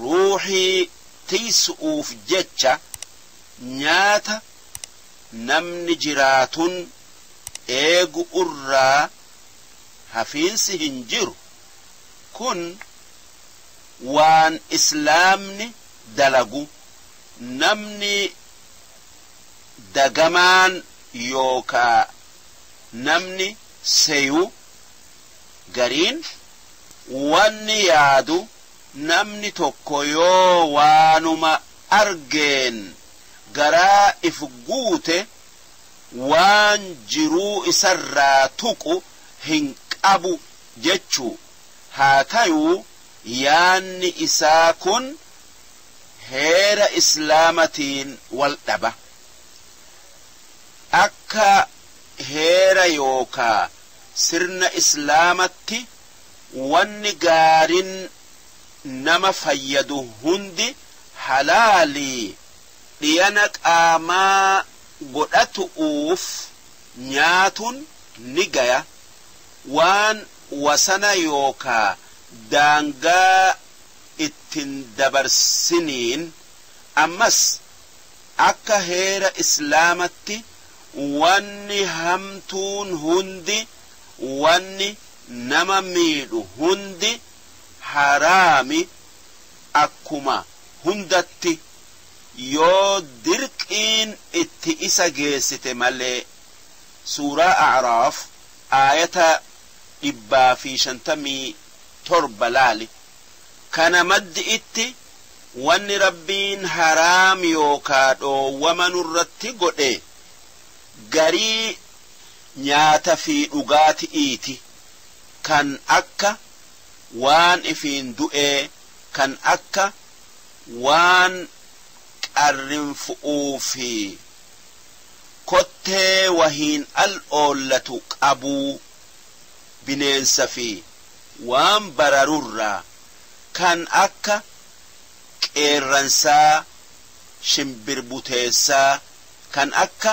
ruuhii tiysu'uuf jecha nyaata namni jiraatun eegu'urraa hafiinsi hin jiru, kun waan islaamni dalagu namni dagamaan yookaa namni seyu gariin wanni yaadu Namni tokko yoo waanuma argeen garaa if guute waan jiruu isarraa tuqu hin qabu jechuu. Haa tayuu yaanni isaa kun heera Islaamatiin wal dhaba. Akka heera yookaa sirna Islaamatti. wanni gaarin nama fayyadu hundi halaali dhiyana qaamaa godhatu'uuf nyaatun ni gaya waan wasana yookaa daangaa ittin dabarsiniin ammas akka heera islaamatti wanni hamtuun hundi wanni nama miidhu hundi haraami akkuma hundatti yoo dirqiin itti isa geessite malee. Suuraa A'raaf aayata 157 laali. Kana maddi'itti wanni Rabbiin haraam yookaa dhoowwama nurratti godhe garii Nyaata fi dhugaati'iiti, kan akka waan ifiin du'ee, kan akka waan qarrinfu'uu fi kottee wahiin al oollatu qabuu, bineensa fi waan bararu irraa, kan akka qeerransaa, shimbirbuteessaa, kan akka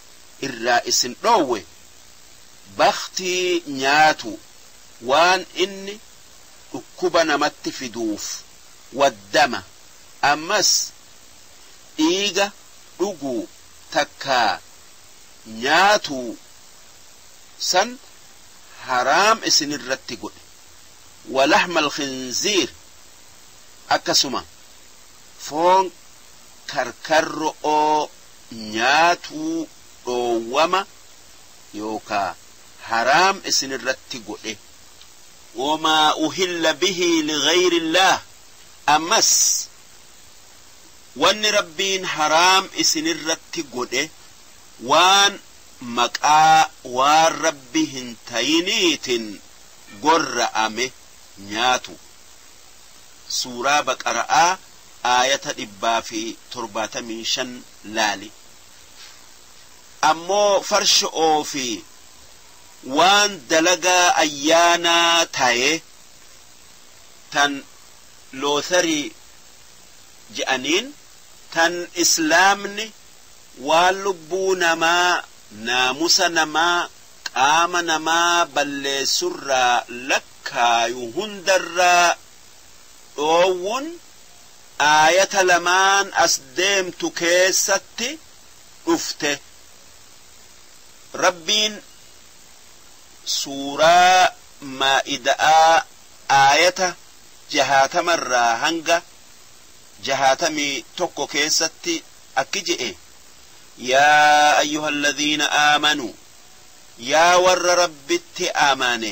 irraa isin dhoowwe bakhtii nyaatuu waan inni dhukkuba namatti fiduuf waddama ammas dhiiga dhuguu takkaa nyaatuu san haraam isinirratti godhe walaxma alkhinziir akkasuma foon karkarro'oo nyaatuu dhoowwama yookaa haraam isinirratti godhe. wamaa uhilla bihi lighayrillaah ammas wanni Rabbiin haraam isinirratti godhe waan maqaa waan Rabbi hin tayiniitin gorra'ame nyaatuu. Suuraa Baqara'aa. aayata 175 laali. Ammoo farsho'oo fi waan dalagaa ayyaanaa taye tan lottery je'aniin tan Islaamni waan lubbuu namaa, naamusa namaa, qaama namaa balleessurraa lakkaayu hundarraa dhoowwun aayata lamaan as deemtu keessatti dhufte. Rabbiin suuraa Maa'ida'aa aayata 60 irraa hanga 61 keessatti akki je'e, Yaa ayyuhalladhiina aamanuu, yaa warra Rabbitti amane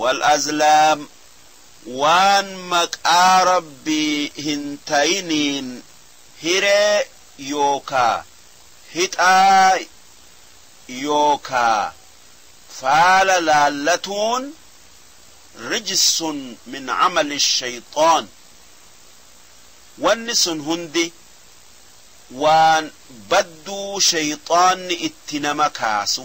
Wal-azlaam, waan maqaa Rabbii hin tayiniin hiree yookaa hixaa yookaa faala laallatuun, rijsun min amali shayxaan, wanni sun hundi waan badduu shayxaanni itti nama kaasu.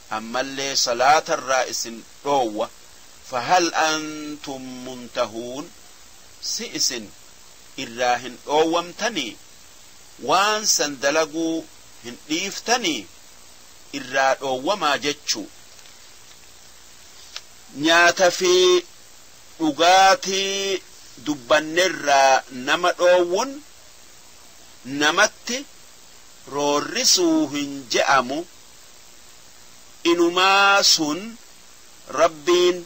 ammallee salaatarraa isin dhoowwa fahal antum muntahuun si isin irraa hin dhoowwamtanii? waan san dalaguu hin dhiiftanii? irraa dhoowwamaa jechuu. nyaata fi dhugaatii dubbannerraa nama dhoowwun namatti roorrisuu hin je'amu. inumaa sun Rabbiin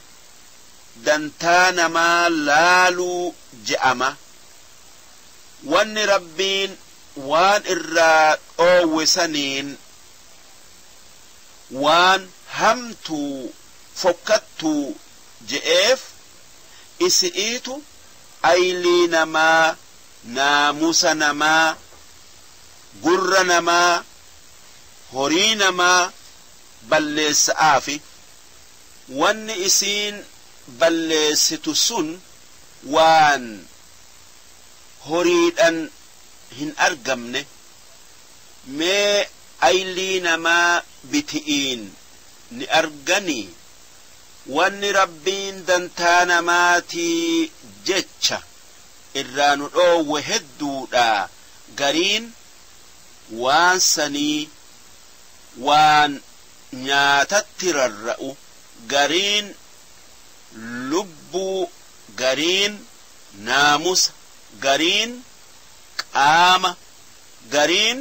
dantaa namaa laaluu je'ama. Wanni Rabbiin waan irraa dhoowwe saniin waan hamtuu, fokkattuu je'eef, isi'iitu aylii namaa, naamusa namaa, gurra namaa, horii namaa balleessa'aafi wanni isiin balleessitu sun waan horiidhan hin argamne, mee aylii namaa biti'iin ni arganii? Wanni Rabbiin dantaa namaatii jecha irraa nu dhoowwe hedduudha, gariin waan sanii waan nyaatatti rarra'u gariin lubbuu gariin naamusa gariin qaama gariin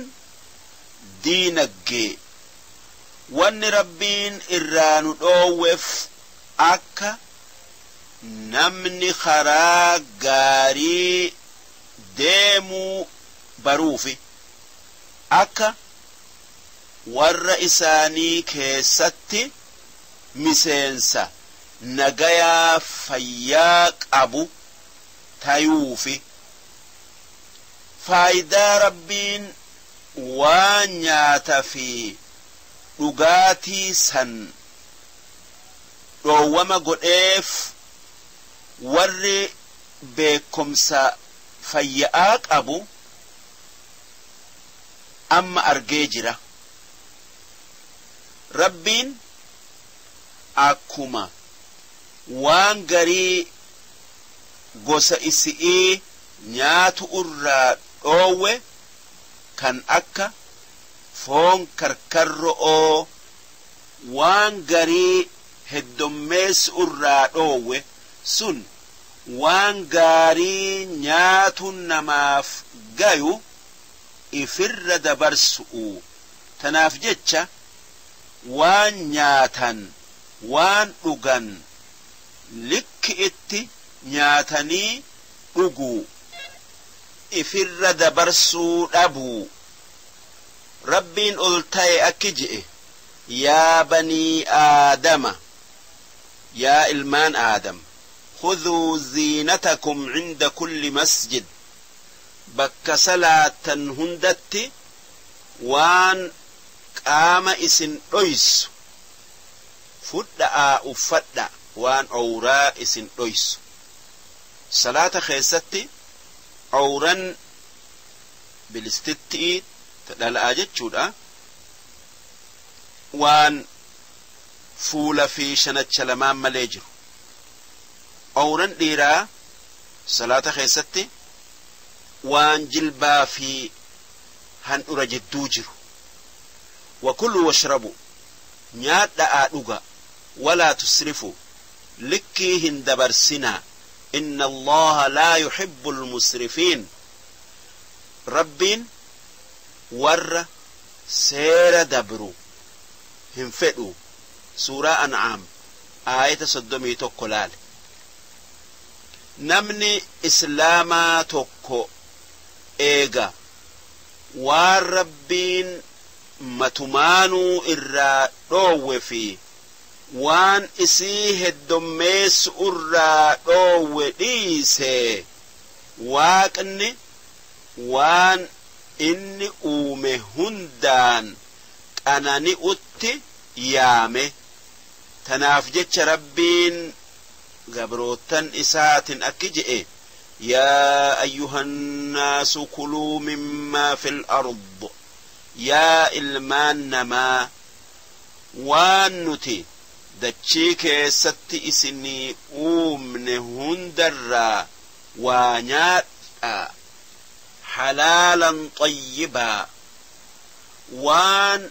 diinaggee wanni Rabbiin irraa nu dhoowwef akka namni karaa gaarii deemuu baruufi akka warra isaanii keessatti miseensa nagayaa fayyaa qabu tayuufi faaydaa Rabbiin waan nyaata fi dhugaatii san dhoowwama godheef warri beekkomsa fayya'aa qabu amma argee jira. Rabbiin akkuma waan garii gosa isi'ii nyaatu'urraa dhoowwe kan akka foon karkarro'oo waan garii heddommeessu'urraa dhoowwe sun, waan gaarii nyaatuun namaaf gayu ifirra dabarsu'u. Tanaaf jecha waan nyaatan, waan dhugan likki'itti nyaatanii dhuguu, ifirra dabarsuu dhabuu. Rabbiin oltaye akki je'e, Yaa banii aadama! Yaa ilmaan Aadam! Khudhuu ziinatakum 'inda kulli masjid, Bakka salaattan hundatti waan qaama isin dhoysu fudha'aa uffadhaa, waan owraa isin dhoysu. Salaata keessatti owran bilistitti'ii, ta dhala'aa jechuudha, waan. fuula fi shanacha lamaan malee jiru. Awran dhiiraa salaata keessatti waan jilbaa fi handhura jidduu jiru. Wakuluu washrabuu, nyaadha'aa dhugaa, walaa tusrifuu, likkii hin dabarsinaa, inna Allaaha laa yuhibbul musrifiin, Rabbiin warra seera dabru hin fedhu. Suuraa An'aam aayata 31 laali. Namni Islaamaa tokko eega waan Rabbiin matumaanuu irraa dhoowwe fi waan isii heddommeessu'urraa dhoowwe dhiisee, Waaqni waan Inni uume hundaan qanani'utti yaame. Tanaaf jecha Rabbiin gabroottan Isaatin akki je'e, Yaa ayyuhan naasu kuluu mimmaa fil ard, Yaa ilmaan namaa! Waan nuti dachii keessatti isinii uumne hundarraa waa nyaadhaa, halaalan xayyibaa, waan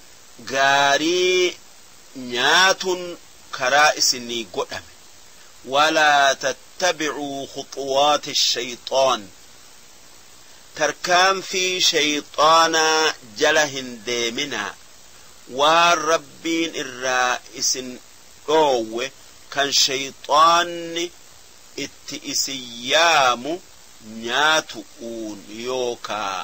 gaarii nyaatun karaa isinii godhame walaa tattabicuu khuxuwaati shayxaan tarkaanfii shayxaanaa jala hin deeminaa waan rabbiin irraa isin dhoowwe kan shayxaanni itti isin yaamu nyaatu'uun yookaa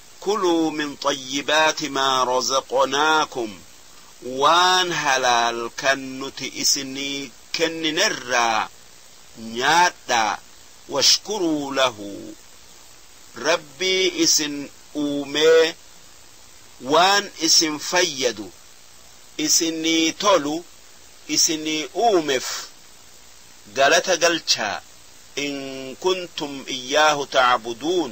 Kuluu min xayyibaati maa razaqnaakum Waan halaal kan nuti isinii kenninerraa nyaadhaa washkuruu lahu Rabbii isin uumee waan isin fayyadu isinii tolu isinii uumef galata galchaa in kuntum iyyaahu ta'buduun